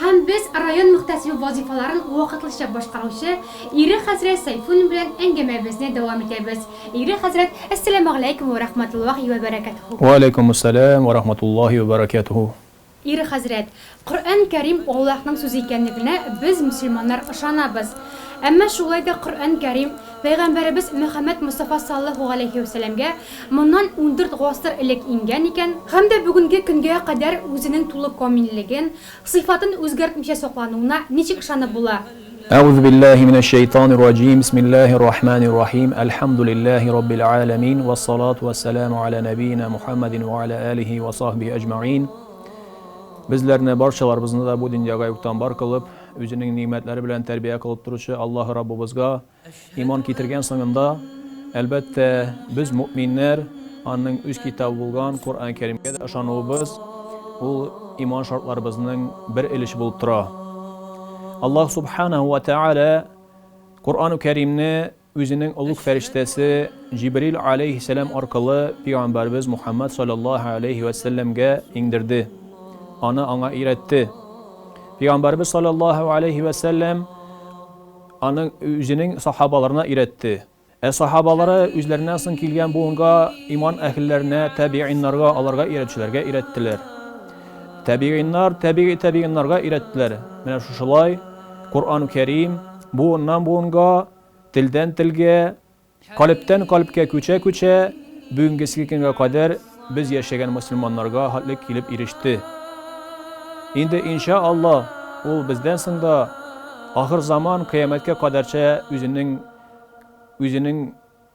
Һәм без район мөхтәсибе вазыйфаларын вакытлыча башкаручы ире хәзрәт Сәйфуллин белән әңгәмәбезне дәвам итәбез. Ире хәзрәт, Әссәләмәгъләйкүм вә рәхмәтуллаһи вә бәрәкәтүһү. Вә аләйкүмүссәләм вә рәхмәтуллаһи вә бәрәкәтүһү. Ире хәзрәт, Коръән Кәрим Аллаһның сүзе икәнлегенә без мөселманнар ышанабыз. Әмма шулай да Коръән Кәрим Пәйгамбәребез Мөхәммәд Мостафа саллаһу галәйһи вә сәләмгә моннан ундүрт гасыр элек иңгән икән, һәм дә бүгенге көнгә кадәр үзенең тулы камиллеген, сыйфатын үзгәртмичә саклануына ничек ышанып була? Әгузу биллаһи минәш шәйтанир раҗим, бисмиллаһир рахманир рахим, әлхәмдүлиллаһи раббил галәмин, вә салату вә сәламу галә нәбиенә Мухәммәдин вә галә әлиһи вә сахбихи әҗмәгыйн. Безләрне, барчаларыбызны да бу дөньяга юктан бар кылып, Үзенең нигъмәтләре белән тәрбия кылып торучы Аллаһы Раббыбызга иман китергән сыңында, әлбәттә, без, мөэминнәр, Аның үз китабы булган Коръән Кәримгә дә ышануыбыз, ул иман шартларыбызның бер өлеше булып тора. Аллаһ Субханәһү вә Тәгалә Коръән Кәримне Үзенең олуг фәрештәсе Җибрил галәйһиссәлам аркылы пигамбәребез Мухаммад салләллаһу галәйһи вә сәлләмгә иңдерде, аны аңа өйрәтте. Пигамбәребез салләллаһу галәйһи вә сәлләм аны үзенең сахабаларына өйрәтте. Ә сахабалары үзләреннән соң килгән буынга, иман әһелләренә, тәбигыйннарга, аларга өйрәтүчеләргә өйрәттеләр. Тәбигыйннар тәбигый тәбигыйннарга өйрәттеләр. Менә шушылай Коръән-у Кәрим, Буыннан-буынга, телдән-телгә, калебтән-калебкә күчә-күчә, бүгенгесге көнгә кадәр без яшәгән мөселманнарга хәтле килеп иреште. Инде, иншә Алла, ул бездән соң да ахырзаман кыямәткә кадәрчә үзенең үзенең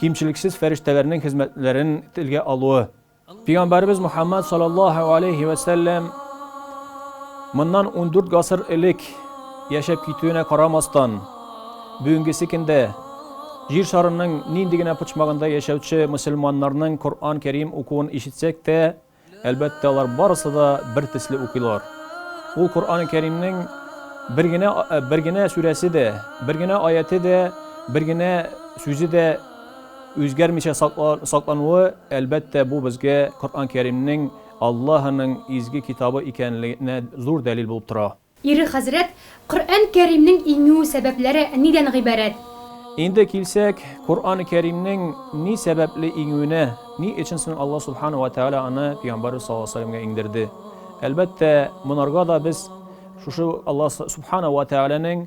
кимчелексез фәрештәләрнең хезмәтләрен телгә алуы. Пигамбарыбыз Мухаммад саллаллаһу алейхи ва сәлләм моннан 14 гасыр элек яшәп китүенә карамастан, бүгенгесе көндә җир шарының нинди генә почмагында яшәүче мусульманнарның Коръән Кәрим укуын ишетсәк тә, Әлбәттә, алар барысы да бертөсле укыйлар. Ул Коръәни Кәримнең бер генә бер генә сүрәсе дә, бер генә аяте дә, бер генә сүзе дә үзгәрмичә саклануы, әлбәттә, бу безгә Коръән Кәримнең Аллаһының изге китабы икәнлегенә зур дәлил булып тора. Ире хәзрәт, Коръән Кәримнең иңү сәбәпләре нидән гыйбарәт? Инде килсәк, Коръән Кәримнең ни сәбәпле иңүенә, ни өчен соң Алла Субхана уә Тәгалә аны Пөйгамбәрбез саллаллаһу галәйһи уә сәләмгә иңдерде? Әлбәттә, монарга да без шушы Алла Субхана уә Тәгаләнең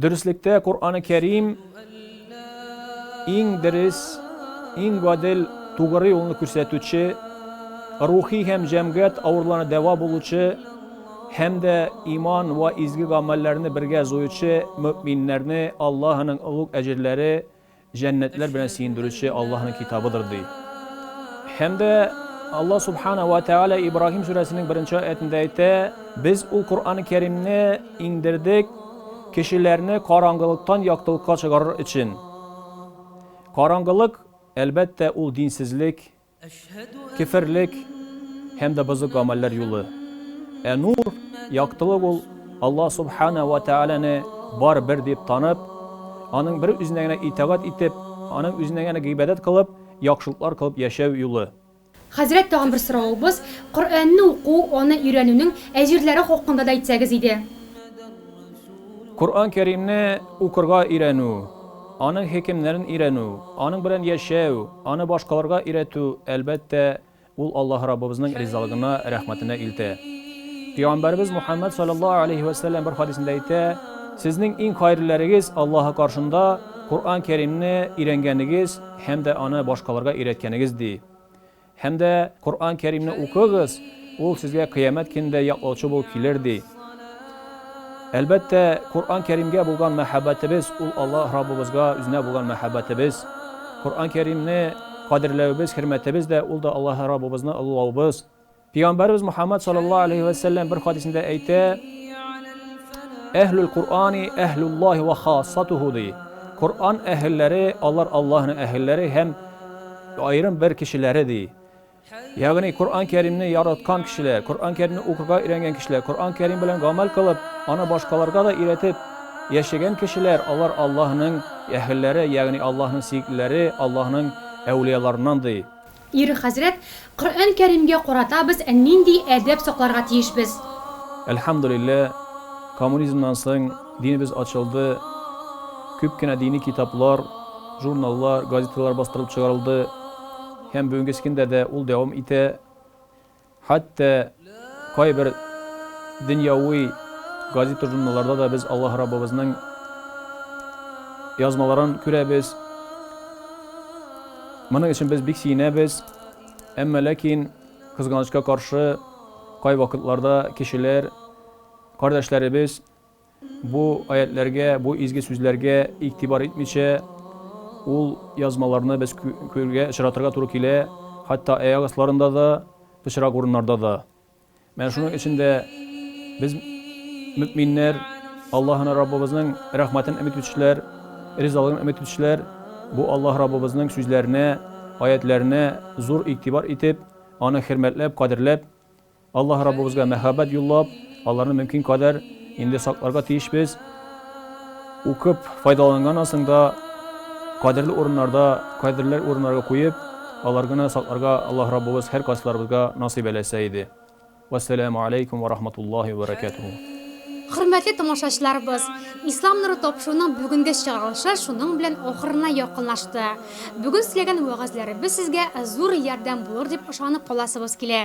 Дөреслектә Коръәне Кәрим иң дерес, иң гадел, тугры юлны күрсәтүче, рухи һәм җәмгыять авыруларына дәва булучы һәм дә иман вә изге гамәлләрне бергә җуючы мөэминнәрне Аллаһының олуг әҗерләре, җәннәтләр белән сөендерүче Аллаһының китабыдыр, ди. Һәм дә Аллаһ Субхана ва Тәгалә Ибраһим сүрәсенең беренче аятында әйтә, Без ул Коръән-ы Кәримне иңдердек кешеләрне караңгылыктан яктылыкка чыгарыр өчен. Караңгылык, әлбәттә, ул динсезлек, Кеферлек һәм дә бозык гамәлләр юлы. Ә нур, яктылык ул, Аллаһ Субхана вә Тәгаләне бар бер дип танып, Аның бер үзенә генә итагать итеп, Аның үзенә генә гыйбадәт кылып, яхшылыклар кылып яшәү юлы. Хәзрәт, тагын бер соравыбыз, Коръәнне уку, аны өйрәнүнең әҗерләре хакында да әйтсәгез иде. Коръән Кәримне укырга өйрәнү, аның хикемнәрен өйрәнү, аның белән яшәү, аны башкаларга өйрәтү, әлбәттә, ул Аллаһ Раббыбызның ризалыгына, рәхмәтенә илтә. Пәйгамбәребез Мухаммәд саллаллаһу алейһи вә сәлләм бер хадисендә әйтә, Сезнең иң хәерлеләрегез Аллаһы каршында Коръән Кәримне өйрәнгәнегез һәм дә аны башкаларга өйрәткәнегез, ди. Һәм дә Коръән Кәримне укыгыз, ул сезгә Кыямәт көнендә яклаучы булып килер, ди. Әлбәттә, Коръән Кәримгә булган мәхәббәтебез, ул Аллаһ Раббыбызга үзенә булган мәхәббәтебез. Коръән Кәримне кадерләвебез, хөрмәтебез дә, ул да Аллаһ Раббыбызны олылаубыз. Пәйгамбәребез Мухаммад салләллаһу алейһи вә сәлләм бер хадисендә әйтә, Әһлүл Коръәни әһлүллаһи вә хассатуху, ди. Коръән әһелләре, алар Аллаһның әһелләре һәм Аерым бер кешеләре, ди. Ягъни Коръән Кәримне яраткан кешеләр, Коръән Кәримне укырга өйрәнгән кешеләр, Коръән Кәрим белән гамәл кылып, аны башкаларга да өйрәтеп яшәгән кешеләр, алар Аллаһының әһелләре, ягъни Аллаһның сөеклеләре, Аллаһның әүлияларыннан, ди. Ире хәзрәт Коръән Кәримгә карата без нинди әдәп сакларга тиешбез? Әлхәмдүлиллә, коммунизмнан соң динебез ачылды, күп кенә дини китаплар, журналлар, газеталар бастырылып чыгарылды һәм бүгенгескендә дә ул дәвам итә. Хәтта Кайбер дөньяви газета-журналларда да без Аллаһ Раббыбызның язмаларын күрәбез. Моның өчен без бик сөенәбез. Әмма ләкин кызганычка каршы кайвакытларда кешеләр, кардәшләребез Бу аятьләргә, бу изге сүзләргә игътибар итмичә, ул язмаларны без күрергә, очратырга туры килә, хәтта аяк асларында да, пычрак урыннарда да. Менә шуның өчен дә без, мөэминнәр, Аллаһыны Раббыбызның рәхмәтен өмет итүчеләр, ризалыгын өмет итүчеләр, бу Аллаһ Раббыбызның сүзләренә, аятьләренә зур игътибар итеп, аны хөрмәтләп, кадерләп, Аллаһ Раббыбызга мәхәббәт юллап, аларны мөмкин кадәр инде сакларга тиешбез. Укып файдаланган асыңда кадерле урыннарда, кадерле урыннарга куеп, аларгыны сакларга Аллаһ Раббыбыз һәр кайсыларыбызга насыйп әләсә иде. Вәссәламу алейкум вә рахматуллаһи вә бәрәкәтүһү. Хөрмәтле тамашачыларыбыз, Ислам нуры тапшыруның бүгенге чыгарылышы шуның белән ахырына якынлашты. Бүген сөйләгән вәгазьләребез сезгә зур ярдәм булыр дип ышанып каласыбыз килә.